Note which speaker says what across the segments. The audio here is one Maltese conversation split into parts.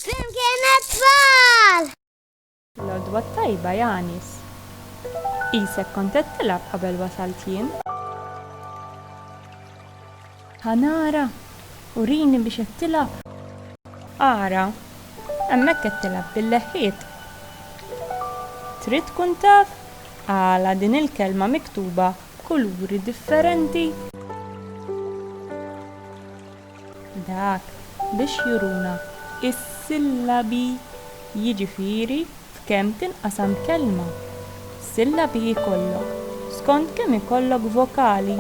Speaker 1: Flimkien it-tfal! L-għodwa t-tajba Janis. Qisek kont qed tilgħab qabel wasalt jien. Ħa nara, urini biex qed tilgħab. Ara, hemmhekk qed tilgħab bil-leħħiet. Trid tkun taf għala din il-kelma miktuba b'kuluri differenti? Dak biex juruna s-sillabi, jiġifieri f'kemm tinqasam kelma. Sillabi jkollok skont kemm ikollok vokali,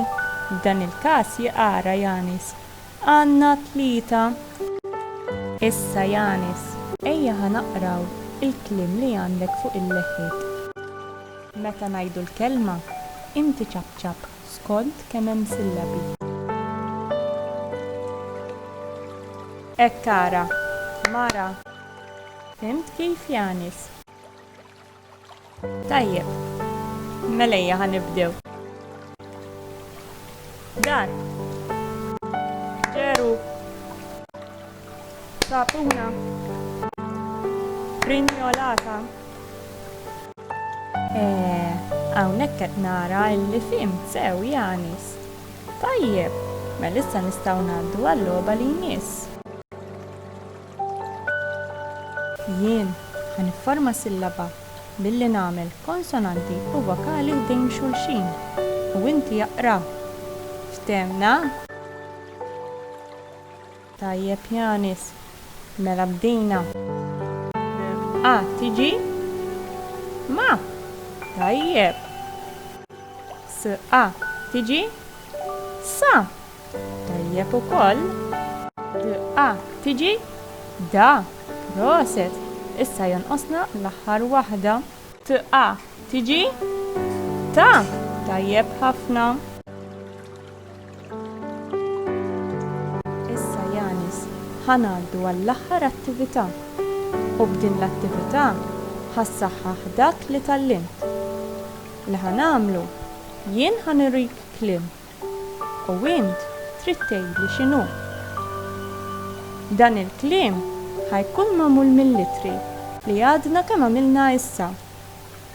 Speaker 1: f'dan il-każ jqara Yanis. Għandna tlieta. Issa Yanis, ejja ħa naqraw il-kliem li għandek fuq il-leħiet. Meta ngħidu l-kelma, inti ċapċap. skont kemm hemm sillabi. Hekk tara, mara. Fhimt kif, Yanis? Tajjeb. Mela ejja ħa nibdew. Dar. Ġeru. Sapuna frinjolata. Eh, hawnhekk qed nara illi fhimt sew Janis. Tajjeb, mela issa nistgħu ngħaddu għal-logħba li jmiss. Jien ħa nifforma sillaba billi nagħmel konsonanti u vokali ħdejn xulxin u inti aqra. Fthemna? Tajjeb Yanis. Mela bdejna. A tiġi? Ma! Tajjeb. S a tiġi? Sa! Tajjeb ukoll. D a tiġi? Da! Proset! Issa jonqosna l-aħħar waħda. T a tiġi? Ta! Tajjeb ħafna. Issa, Yanis, ħa ngħaddu għall-aħħar attività. U b'din l-attività ħa ssaħħaħ dak li tgħallimt. Li ħa nagħmlu, jien ħa nurik kliem. U int trid tgħidli x'inhu. Dan il-kliem ħa jkun magħmul mill-ittri li għadna kemm għamilna issa.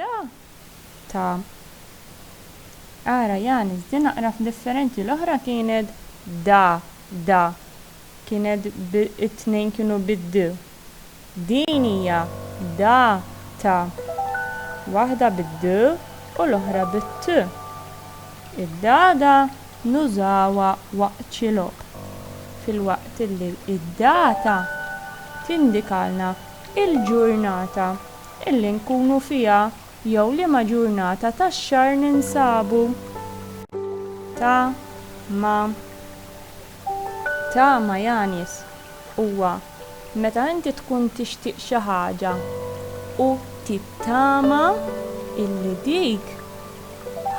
Speaker 1: Da! Ta! Ara Janis, din aqraf differenti, l-oħra kienet da, da, kienet b, it-tnejn kienu bid-d. Din hija da, ta, waħda bid-d u l-oħra bit-t. Id-dada nużawha waqt xi logħob, filwaqt li d-data tindikalna l-ġurnata. Illi nkunu fiha jew liema ġurnata tax-xahar ninsabu. Ta' ma Ta' ma Yanis, Huwa meta inti tkun tixtieq xi ħaġa u tittama illi dik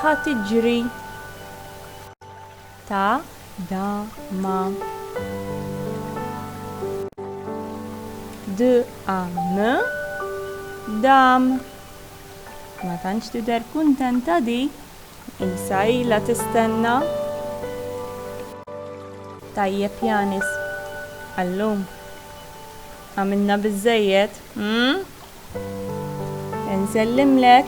Speaker 1: ħa tiġri. ta, da, ma, d, a, m, dam. Ma tantx tidher kuntenta di, qisha ilha tistenna. Tajjeb Janis, għallum għamilna biżżejjed, hm?
Speaker 2: Insellimlek.